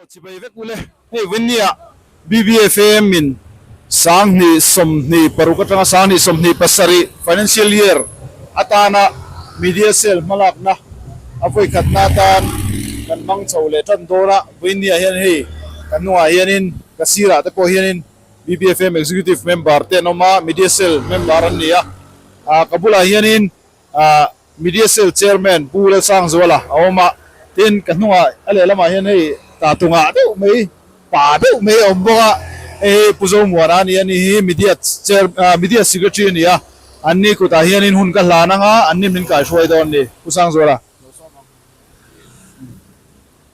Aw chibai vek ule hei Vinny-a BBFAM in sanghnih sawmhnih paruk atanga sanghnih sawmhnih pasarih financial year atana media cell hmalakna a vawikhatna atan kan hmang chho leh tan dawn a, Vinny-a hian hei ka hnungah hianin ka sirah te pawh hianin BBFAM executive member te an awm a, media cell member an ni a, ka bulah hianin A Media Cell Chairman Pu Lalsangzuala a awm a, tin ka hnungah a lehlamah hian hei ta tunga deuh mai, pa deuh mai a awm bawk a, hei hi Pu Zomuana a ni a, ni hi Media Chair, Media Secretary a ni a, an ni kutah hianin hun ka hlan anga an ni min kaihruai dawn a ni, Pu Sangzuala.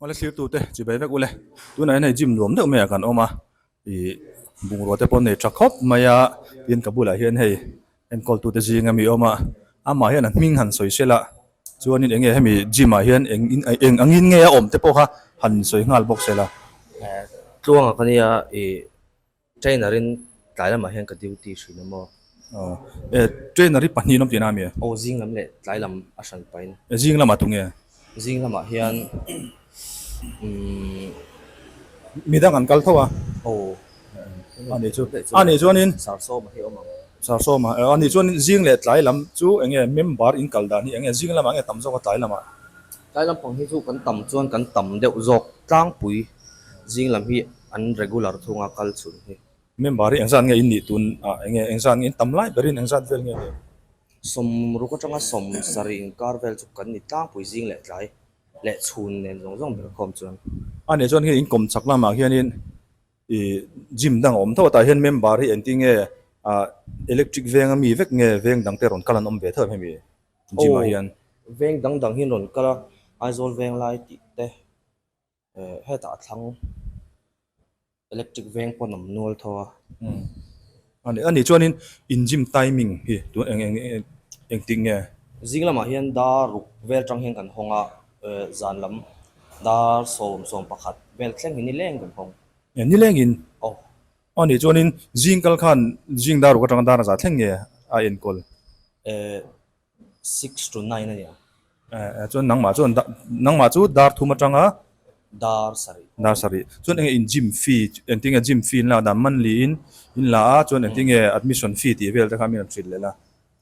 Awle thirtute chibai vek ule tunah hian hei gym nuam deuh maiah kan awm a ih bungrua te pawh nei tha khawp mai a tin ka bulah hian hei enkawl tute zing a mi awm a amah hian an hming han sawi sel a chuanin eng nge hemi gym ah hian eng in eng angin nge a awm te pawh kha han sawi nghal bawk sela tluangak ania ih-- Trainer in tlai lamah hian ka duty hrin a maw? Aw. E, trainer i pahnih lam tihna a mi e? Aw, zing lam leh tlai lam a hran pahin. E, zing lamah tu nge? Zing lamah hian, umm. Mi dang an kal tho a. Aw. A nih chu, a nih chuanin. Sarsawma hi awm ang. Sarsawma, e, a nih chuanin zing leh tlai lam chu eng nge member in kal dan hi eng nge zing lamah nge tam zawk a tlai lamah? Tlai lampang hi chu kan tam chuan kan tam deuh zawk tlangpui zing lam hi an regular thunga kal chhun hi. Member hi engzat nge in nih tun ah eng nge engzat nge in tam lai berin engzat vel nge nih. Sawm ruk atanga sawm sarih inkar vel chu kan ni tlangpui zing leh tlai leh chhun nen zawng zawng ber khawm chuan. Ani chuan hei inkawm chak lamah hianin I gym dang awm thawtah hian member hi engtin nge ah electric veng ami vek nge veng dang te rawn kal an awm ve theuh em hemi gym ah hian. Aw veng dang dang hi an rawn kal a Aizawl veng lai tih te eh hetah thlang electric veng pawh an awm nual thaw a. Ani chuanin in gym timing hi tun eng eng eng eng tih nge? Zing lamah hian dar ruk vel tang hian kan hawng a, zan lam dar sawm sawm pakhat vel thleng hi nileng kan hawng. Nilengin? Aw. Ani chuanin zing kal khan zing dar ruk atanga darna za thleng nge a enkawl? Ee. Six to nine a ni ang. Eh, chuan nangmah chuan da, nangmah chu dar thum atang a? Dar sarih. Dar sarih. Chuan enge in gym fee, engtin nge gym fee in lak dan, monthly in in la a, chuan engtin nge admission fee tih vel te khan min rawn hrilh leh la?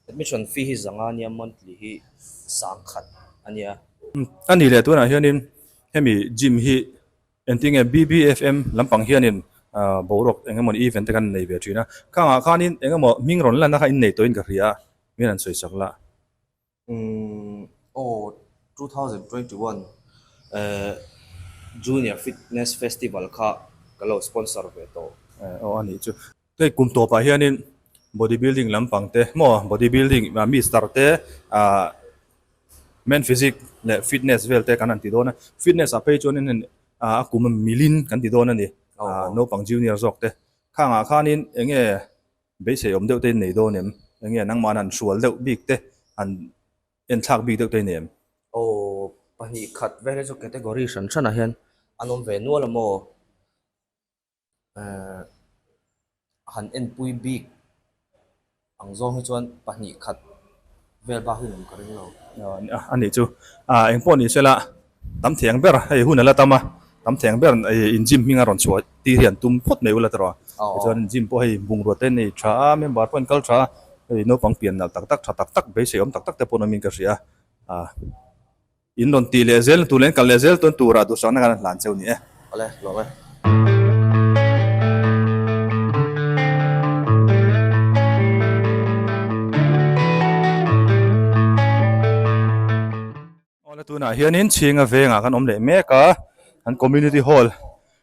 Admission fee hi zanga nia, monthly hi sangkhat a nia. A nih leh tunah hianin hemi gym hi Engtinge BBFM lampang hianin boruak eng emawni event te kan nei ve thin a, khang ah khanin eng emaw hming rawn lan a kha innei tawhin ka hria a, min an sawi sak la. Umm aw two thousand twenty one ehh Junior Fitness Festival kha ka lo sponsor ve tawh. Aw a nih chu. Hei kum tawpah hianin body building lampang te maw body building mi star te ah men physic leh fitness vel te kan han ti dawn a fitness ah phei chuan in a kum a milin kan ti dawn a ni naupang junior zawk te khang ah khan in eng nge beisei awm deuh te in nei dawn em eng nge nangmah han hrual deuh bik te han en thlak bik deuh te in em aw pahnih khat vel hi chu category hran hran ah hian an awm ve nual a maw. han enpui bik ang zawng hi chuan pahnih khat vel bak hi lem ka ring lo. A nih chu. A, engpawh nih se la, tam theng ber hei hun a la tam a, tam theng ber in gym hming a rawn chhuah ti hi an tum phawt mai u la tawrh a. Tichuan gym pawh hei bungrua te an nei tha a, member pawh an kal tha a, hei naupang pian nalh tak tak, tha tak tak, beisei awm tak tak te pawh an awm in ka hria a. In rawn tih leh zel na tur leh in kal leh zel tawn tura duhsakna kan hlan cheu ni e. Awle, hlawm e. Awle tunah hianin chhinga vengah kan awm leh mek a, kan community hall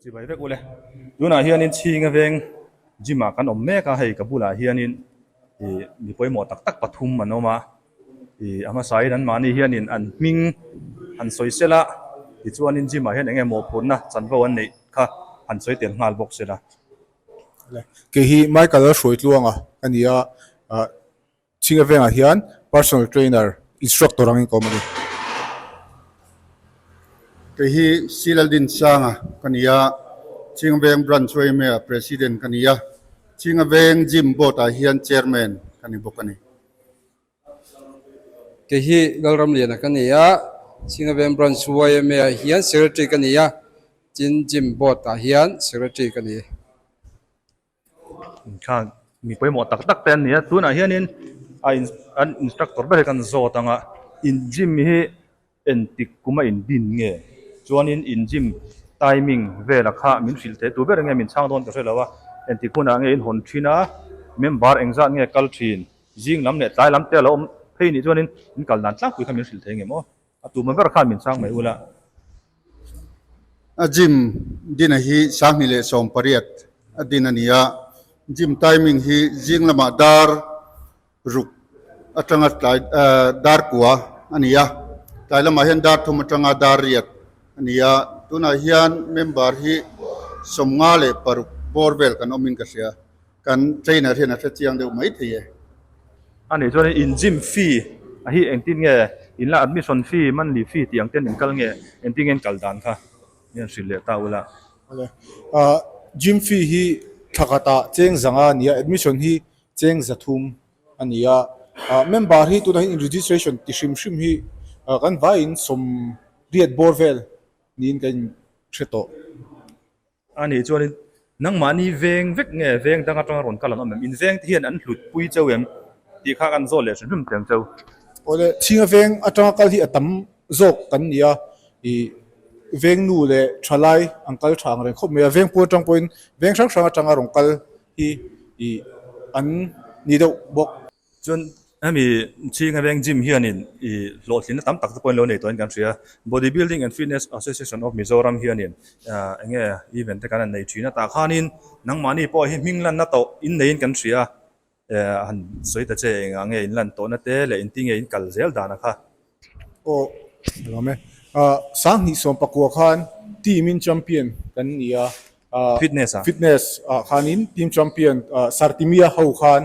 Chibai vek ule. Tunah hianin chhing aveng gym ah kan awm mek a, hei ka bulah hianin ih mi pawimawh tak tak pathum an awm a, ih a hmasain an mahni hianin an hming han sawi sel a, tichuanin gym ah hian eng emaw phurna chanvo an neih kha han sawi tel nghal bawk sila. Kei hi Michael-a hruai tluanga a ni a, ah. Chhing a vengah hian personal trainer instructor ang inkawm a ni. Kei hi Sri Laldin Sanga ka ni a, Chhing a veng branch YMA ah president ka ni a, Chhing a veng gym board ah hian chairman ka ni bawk a ni. Kei hi Galramliana ka ni a, Chhing a veng branch YMA ah hian secretary ka ni a, tin gym board ah hian secretary ka ni. Khang mi pawimawh tak tak te an ni a tunah hianin a in an instructor ber hi kan zawt ang a in gym hi entik kuma in din nge chuanin in gym timing vela kha min hrilh theih tur ber ange min chhang dawn ta hrelo a entik hunah ange in hawn thin a member engzat nge kal thin zing lam leh tlai lam te a lo awm phei nih chuanin in kal dan tlangpui kha min hrilh theih ngemaw. A tumah ber khan min sang mai ula. A gym dina hi sahni leh sawm pariat a din a ni a, gym timing hi zing lamah dar ruk atanga tlai dar kua a ni a, tlai lamah hian dar thum atanga dar riat a ni a, tunah hian member hi sawmnga leh paruk bawr vel kan awmin ka hria. Kan trainer hian a hre chiang deuh mai thei e. A nih chuan in gym fee a hi engtin nge? In la admission fee, monthly fee tih ang ten in kal nge? Engtin nge in kal dan kha? Nge an hrilh leh ta ula? Awle. Ahh, gym fee hi thla khatah cheng zanga a ni a, admission hi cheng za thum a ni a. Ahh, member hi tunah hian in registration ti hrim hrim hi ahh kan vaiin sawmriat bawr vel niin kan in hre tawh. A nih chuanin, Nangmahni veng vek nge veng dang atanga rawn kal an awm em? Invengte hian an hlutpui chauh em? tih kha kan zawh leh hrimhrim chiang chauh. Awle, thinga veng atanga kal hi a tam zawk kan ni a, ih, vengnu leh thalai an kal tha ang reng khawp mai a, veng puan atang pawhin veng hrang hrang atanga rawn kal hi, ih, an ni deuh bawk. Chuan hemi chhinga veng gym hianin i hlawhtlinna tam tak te pawhin lo nei tuahin kan hria. Body Building and Fitness Association of Mizoram hianin ah eng nge event te kan han nei thin a, tah khanin nangmahni pawh hi hming lanna tawh in neiin kan hria eh a han sawi ta che eng a enge in lan tawhna te leh in ti nge in kal zel dana kha Aw ram e. Sanghnih sawmpakua khan team in champion kan ni a. Fitness ah? Fitness ah khanin team champion Sartimia ho khan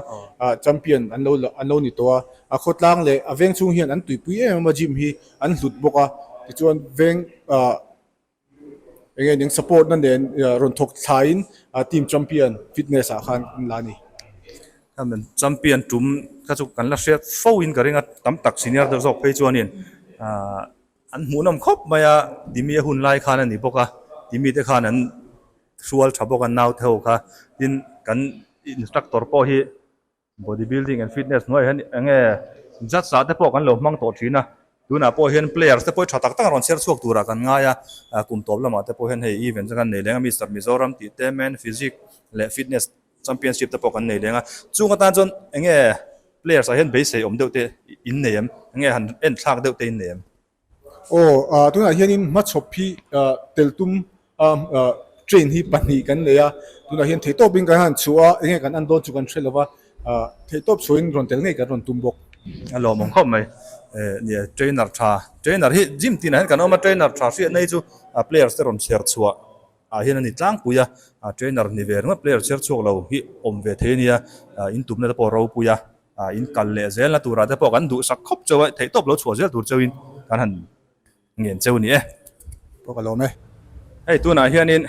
champion an lo an lo ni tawh a. A khawtlang leh a veng chhung hian an tuipui em em a gym hi an hlut bawk a. Tichuan veng ah. Enge ning support na nen rawn thawk thlaiin team champion fitness ah khan an la a ni. Champion tum kha chu kan la hriat fo in ka ring a, tam tak senior te zawk phei chuanin an hmuhnawm khawp mai a, timi a hun lai khan a ni bawk a, timi te khan an hrual tha bawk a naute ho kha, tin kan instructor pawh hi Body building and fitness hnuai hian eng nge judge ah te pawh kan lo hmang tawh thin a, tunah pawh hian players te pawh tha tak tak a rawn chher chhuak tur ah kan ngai a, kum tawp lamah te pawh hian hei event chu kan nei leng a Mister Mizoram tih te men physique leh fitness championship te pawh kan nei leng a, chung atan chuan eng nge players ah hian beisei awm deuh te in nei em? Eng nge han en thlak deuh te in nei em? Aw ah tunah hian in hma chhawp hi ah tel tum a ah train hi pahnih kan nei a tunah hian thei tawp in kan han chhuh a eng nge kan an dawn chu kan hre lova ah thei tawp chhuah in rawn tel ngei kan rawn tum bawk. A lawm ang khawp mai eh nia trainer tha trainer hi gym tinah hian kan awm a trainer tha hriat na hi chu ah players te rawn chhiar chhuah ah hian a ni tlangpui a ah trainer ni ve ringawt player chhiar chhuak lo hi awm ve thei a nia ah in tumna te pawh ropui a. a in kal leh zel na tur ah te pawh kan duh sak khawp chauh a theih tawp lo chhuah zel tur chauh in kan han ngen chauh ni e. Pawh ka lawm e. Hei tun ah hian in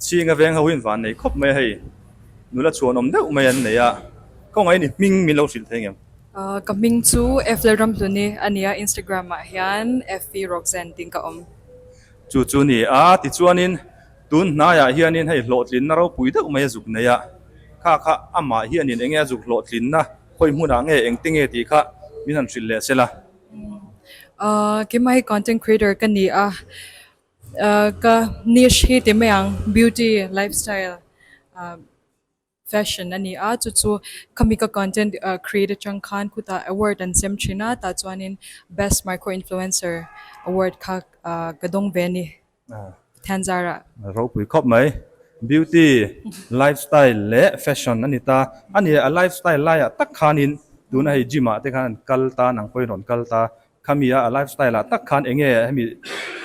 chhinga veng ho in van nei khawp mai a hei nula chhuanawm deuh mai an nei a kawng aini hming min lo hrilh thei ngem. Ka hming chu Eflel Ramhluni a ni a Instagram ah hian Effy Roxanne tiin ka awm. Chu chu ni a tichuan in Tun hnaiah hianin hei hlawhtlinna ropui deuh maia zuk neia kha kha amah hianin enge a zuk hlawhtlinna hawi hmunah nge engte nge tih kha min han hrilh leh se la. Keimah hi content creator ka ni a, ka niche hi ti mai ang beauty lifestyle. Fashion a ni a, chu chu Kamika Content Create atang khan khutah Award an chem thin a, tah chuanin Best Micro Influencer Award kha ka dawng ve a ni, Pathianzara. Ropui khawp mai. Beauty, Lifestyle leh Fashion a ni ta. A ni a Lifestyle laiah tak khanin tuna hei Gym ah te khan an kal ta, an ang pawhin rawn kal ta. Khamia a Lifestyle ah tak khan enge hemi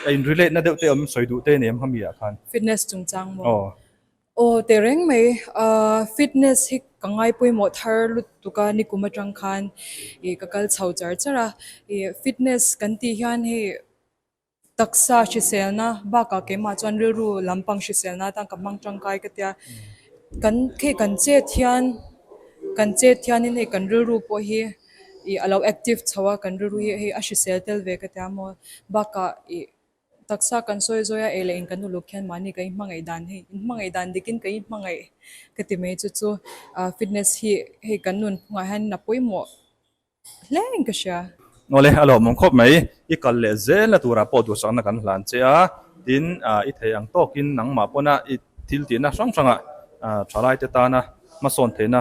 a in relate na deuh te awm sawi duh te nen em khamiah khan. Fitness chungchang maw? Aw. Aw teh reng mai a, fitness hi ka ngai pawimawh thar lutuk a, nikum atang khan i ka kal chho char char a, i fitness kan tih hian hei taksa hriselna bakah keimah chuan rilru lampang hriselna atan ka hmang tangkai ka tia, kan hei kan chet hian kan chet hian in hei kan rilru pawh hi i a lo active chho a, kan rilru hi hei a hrisel tel ve ka tia maw bakah i Taksa kan sawi zawi a, ei la in kan uluk khian mahni kan inhmangaih dan hi, inhmangaih dan dik in kan inhmangaih ka ti mai chu chu fitness hi hei kan nun phung ah hian a pawimawh hle in ka hria. Awle a lawmawng khawp mai, i kal leh zel a tur ah pawh duhsakna kan hlan che a, tin i thei ang tawk in nangmah pawn a i thil tihna hrang hrang ah thalaite tan a hmasawn theihna